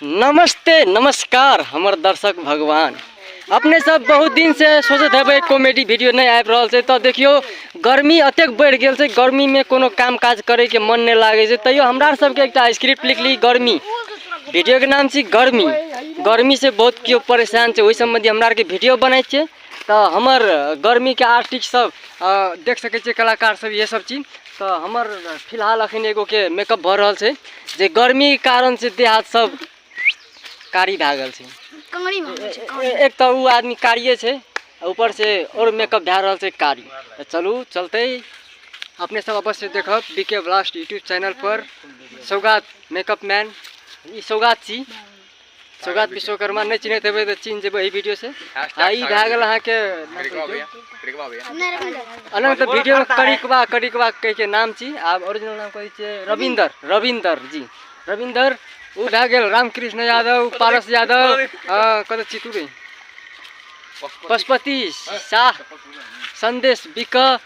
नमस्ते नमस्कार हमर दर्शक भगवान अपने सब बहुत दिन से सोचत हेबै कॉमेडी वीडियो नहीं आबि रहल छै तऽ देखियो गर्मी अतेक बढ़ि गेल छै गर्मी में कोनो काम काज करे के मन नहीं लागे छै तैयो हमरा आर सबके एकटा स्क्रिप्ट लिखली गर्मी वीडियो के नाम छी गर्मी गर्मी से बहुत केओ परेशान छै ओहि सम्बन्धी हमरा आरके वीडियो बनै छै तऽ हमर गर्मीके आर्टिस्ट सब देख सकै छियै कलाकार सब इहे सब चीज तऽ हमर फिलहाल अखन एगोके मेकअप भऽ रहल छै जे गर्मी कारण से देह हाथ सब कारी भए गेल छै कानी भऽ गेल छै कानी। ए- एक तऽ उ आदमी कारिये छै आ ऊपर से और मेकअप भए रहल छै कारी तऽ चलू चलते अपने सब अवश्य देखब बीके ब्लास्ट यूट्यूब चैनल पर सौगात मेकअप मैन ई सौगात छी सौगात विश्वकर्मा नहीं चिन्हत हेबै तऽ चिन्ह जेबै एहि वीडियो से आ ई भए गेल अहाँके अनंत वीडियो में करिकवा करिकवा कह के नाम छी आब ओरिजिनल नाम कहै छियै रविंदर रविंदर जी रविंदर ओ भए गेल रामकृष्ण यादव पारस यादव कतऽ छी तू पशुपति शाह संदेश बिक